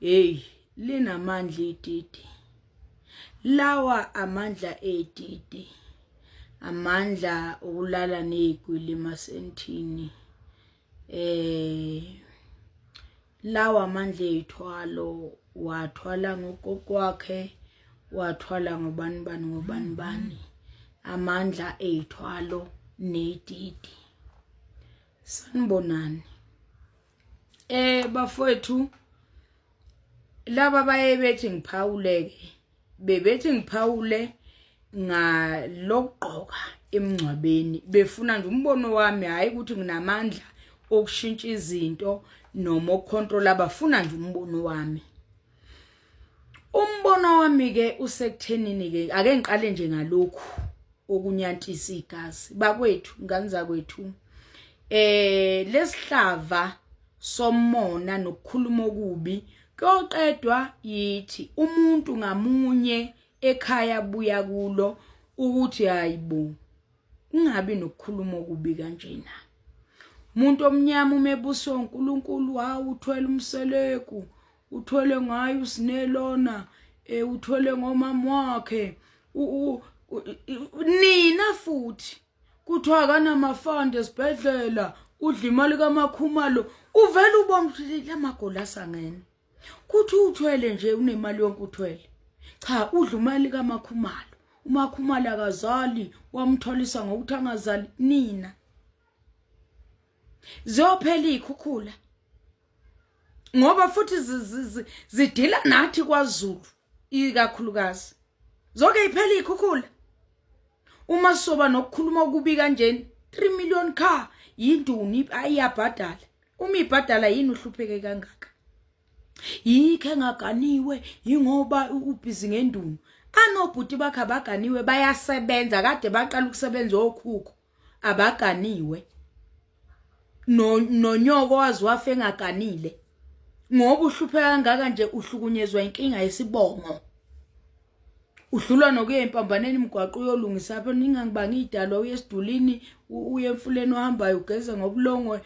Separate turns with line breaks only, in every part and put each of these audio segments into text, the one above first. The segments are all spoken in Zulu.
hey linamandla ididi lawa amandla edidi amandla okulala nezigwili masentini eh lawa amandla ethwalo wathwala ngogogo wakhe wathwala ngobani bani ngobani bani amandla ethwalo nedidi sanibonani eh bafowethu laba baye bethi ngiphawuleke bebethi ngiphawule ngalokugqoka emngcwabeni befuna nje umbono wami hayi ukuthi nginamandla okushintsha izinto noma ukucontrola bafuna nje umbono wami umbono wami ke usekuthenini ke ake ngiqale nje ngalokhu okunyantisa igazi bakwethu ngani zakwethu eh lesihlava somona nokukhuluma okubi koqedwa yithi umuntu ngamunye ekhaya buya kulo ukuthi hayibo ungabi nokukhuluma okubi kanjena umuntu omnyama umebuso uNkulunkulu hawu uthwele umseleku uthwele ngaye usine lona eh uthwele ngomama wakhe nina futhi kuthiwa akanamafanda esibhedlela udla imali kamakhumalo uvele ubona ukuthi lamagoli asangene kuthi uthwele nje unemali yonke uthwele cha udla imali kamakhumalo umakhumalo akazali wamtholisa ngokuthi angazali nina ziyophela ikhukhula ngoba futhi zidila nathi kwaZulu ikakhulukazi zonke iphela ikhukhula uma soba nokukhuluma okubi kanjeni 3 million car yinduni ayiyabhadala uma ibhadala yini uhlupheke kangaka yikho engaganiwe yingoba ubhizi ngendunu anobhuti bakhe abaganiwe bayasebenza kade baqala ukusebenza okhukho abaganiwe no nonyoko waziwafa engaganile ngoba uhlupheka kangaka nje uhlukunyezwa inkinga yesibongo udlula nokuya empambaneni imgwaqo uyolungisa apho ningangibanga idalwa uye esidulini uye emfuleni ohambayo ugeze ngobulongwe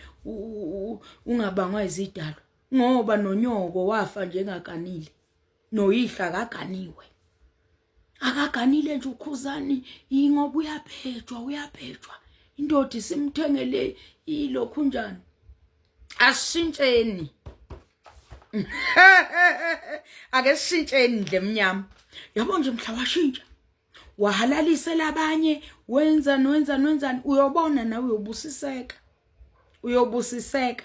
ungabangwa izidalwa ngoba nonyoko wafa njengakanile noyihla akaganiwe akaganile nje ukhuzani ingoba uyabhejwa uyabhejwa indoda isimthengele ilokhu njani asishintsheni ake sishintsheni ndle mnyama yabo nje mhla washintsha wahalalisela abanye wenza nwenza nwenzani uyobona nawe uyobusiseka uyobusiseka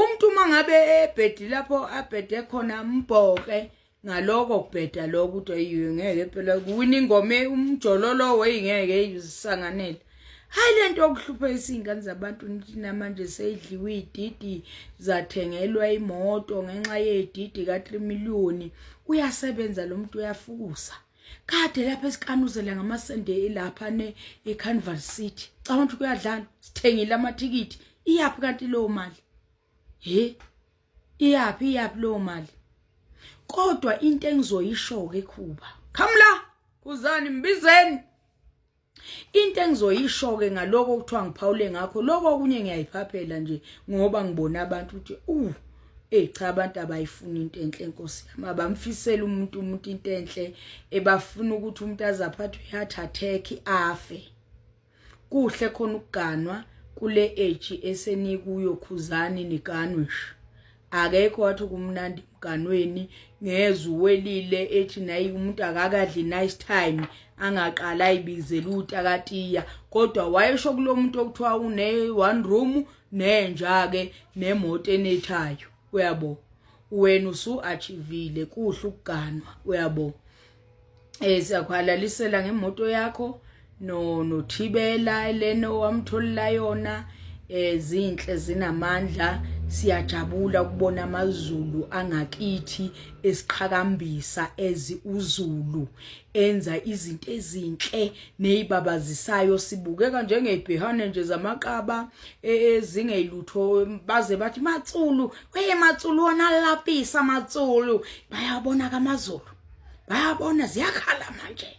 umuntu uma ngabe ebhedi lapho abhede khona mbhoke ngaloko kubheda lokho ukuthi ayiwe ngeke phela kuwina ingoma umjololo weyi ngeke izisanganele hayi lento okuhlupha isingane zabantu namanje seyidliwe ididi zathengelwa imoto ngenxa yedidi ka 3 million uyasebenza lo muntu uyafukusa kade lapha esikanuzela ngamasende lapha ne eCarnival City cabanga ukuthi kuyadlala sithengile amathikithi iyaphi kanti leyo mali he iyaphi iyaphi leyo mali kodwa into engizoyisho ke khuba khamla kuzani mbizeni Into engizoyisho-ke ngaloko okuthiwa ngiphawule ngakho loko okunye ngiyayiphaphela nje ngoba ngibona abantu ukuthi uh eyi cha abantu abayifuni into enhle nkosi yami abamfisela umuntu umuntu into enhle ebafuna ukuthi umuntu azaphathwe heart attack afe kuhle khona ukuganwa kule age esenikuyo khuzani niganwe nje akekho wathi kumnandi mganweni ngezwe welile ethi nayi umuntu akakadli nice time angaqala ayibizela utakatiya kodwa wayesho kulomuntu okuthiwa une one room nenja ke nemoto enethayo uyabo wena usu achievile kuhle ukuganwa uyabo eh siyakuhalalisela ngemoto yakho no nothibela leno wamtholila yona ezinhle eh, zinamandla siyajabula ukubona amazulu angakithi esiqhakambisa ezi uzulu enza izinto ezinhle nezibabazisayo sibukeka njengebhehane nje zamaqaba e, ezingeyilutho baze bathi matsulu weye matsulu wona lapisa matsulu bayabona kamazulu bayabona ziyakhala manje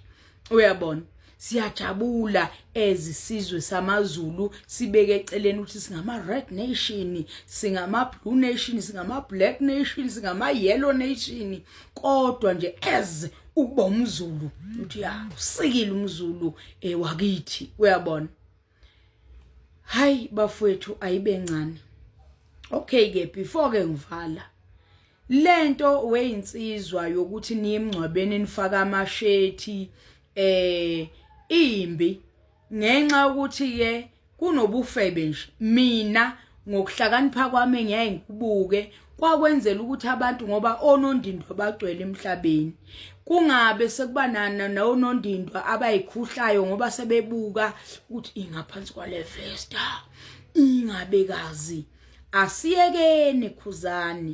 uyabona siyajabula ezisizwe samaZulu sibeke eceleni ukuthi singama red nation singama blue nation singama black nation singama yellow nation kodwa nje as ukuba umZulu uthi ya usikile umZulu ewakithi eh, uyabona hayi bafowethu ayibe ncane okay ke before ke ngivala lento weyinsizwa yokuthi niye emngcwabeni nifaka amashethi eh imbi ngenxa ukuthi ke kunobufebe nje mina ngokuhlakanipha kwami ngiyaye ngikubuke kwakwenzela ukuthi abantu ngoba onondindwa bagcwele emhlabeni kungabe sekuba nana nawonondindwa abayikhuhlayo ngoba sebebuka ukuthi ingaphansi kwale festa ingabekazi asiyekeni khuzani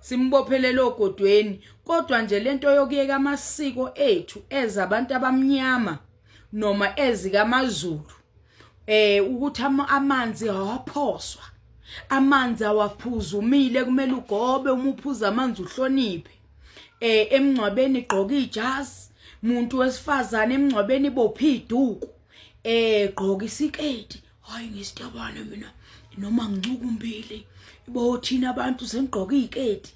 simbophelele ogodweni kodwa nje lento yokuyeka amasiko ethu eza abantu abamnyama noma ezikamazulu eh ukuthi amanzi awaphoswa amanzi awaphuza umile kumele ugobe uma uphuza amanzi uhloniphe eh emngcwabeni igqoka ijazi muntu wesifazane emngcwabeni ibophi iduku eh gqoka isiketi hayi ngisitobane mina noma ngicuka umbili ibo thina abantu sengigqoka iziketi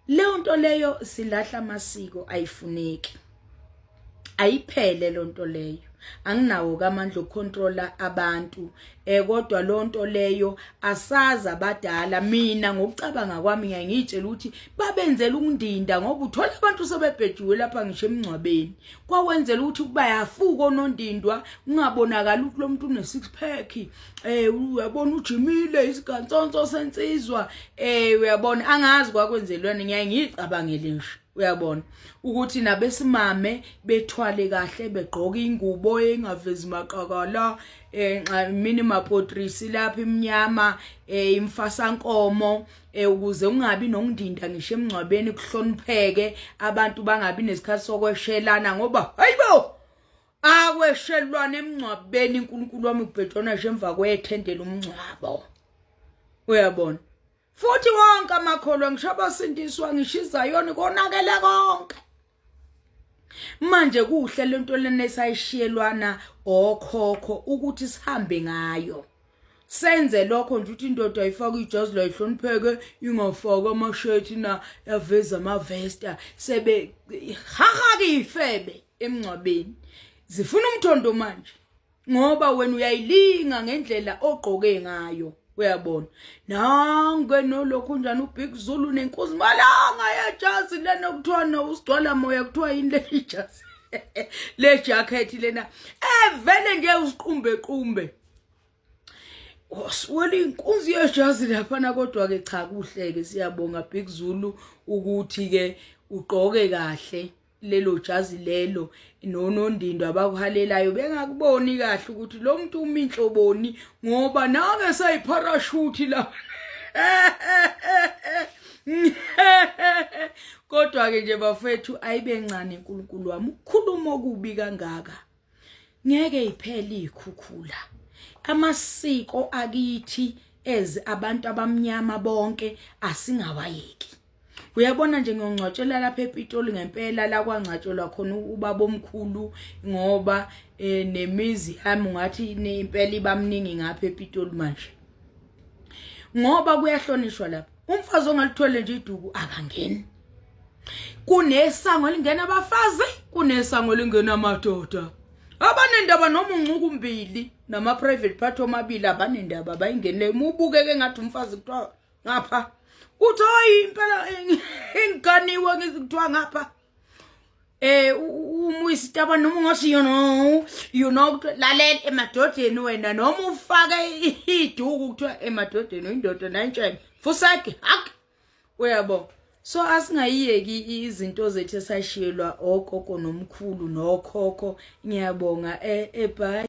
leyo nto leyo silahla amasiko ayifuneki ayiphele leyo nto leyo anginawo kamandla okucontrola abantu eh kodwa lonto leyo asaza abadala mina ngokucabanga kwami ngiyitshela ukuthi babenzela ukundinda ngoba uthola abantu sebebhejiwe lapha ngisho emngcwabeni kwawenzela ukuthi kuba yafuka onondindwa kungabonakala ukuthi lo muntu une-six pack um uyabona ujimile isigansonso sensizwa um uyabona angazi kwakwenzelwani ngiyaye ngiyicabangele nje uyabona ukuthi nabesimame bethwale kahle begqoke ingubo engavezi maqakala eh mina mapotrisi lapha imnyama eh imfasankomo eh ukuze ungabi nongindinda ngisho emngcwabeni kuhlonipheke abantu bangabi nesikhathi sokweshelana ngoba hayibo akweshelwana emngcwabeni uNkulunkulu wami ubhejona nje emva kwethendela umngcwabo uyabona futhi wonke amakholwa ngisho abasindiswa ngishiza yona konakele konke manje kuhle lento lena esayishiyelwana okhokho ukuthi sihambe ngayo senze lokho nje ukuthi indoda ayifaka ijazi la ihlonipheke ingafaka amashethi na yaveza amavesta sebe hahake ifebe emngcwabeni zifuna umthondo manje ngoba wena uyayilinga ngendlela ogqoke ngayo uyabona nange nolokhu njani ubig zulu nenkosi malanga yejazi lena kuthiwa no usigcwala moya kuthiwa yini leli jazi le jacket lena evele nje usiqumbe qumbe wasuwela inkunzi yejazi laphana kodwa ke cha kuhleke siyabonga big zulu ukuthi ke ugqoke kahle lelo jazi lelo nonondindwa abakuhalelayo bengakuboni kahle ukuthi lo muntu umi inhloboni ngoba nake sayiparashuthi la kodwa-ke nje bafethu ayibe ncane nkulunkulu wami ukukhuluma okubi kangaka ngeke iphele ikhukhula amasiko akithi ez abantu abamnyama bonke asingawayeki uyabona nje ngiyongcwatshelwa lapha ePitoli ngempela la kwangcwatshelwa khona ubaba omkhulu ngoba eh, nemizi yami ngathi impela ibamningi ngapha ePitoli manje ngoba kuyahlonishwa lapha umfazi ongalithole nje iduku akangeni kunesango elingena abafazi kunesango elingena amadoda abanendaba noma uncuku mbili nama-private part omabili abanendaba bayingenile uma ubukeke ngathi umfazi kuthiwa ngapha uthi hayi impela engiganiwe ngizikuthiwa ngapha eh umuyisitaba noma ungasiyo no you know lalela emadodeni wena noma ufake iduku kuthiwa emadodeni uyindoda nayintshebe fusake hak uyabo so asingayiyeki izinto zethu esashiyelwa ogogo nomkhulu nokhokho ngiyabonga ebhayi eh,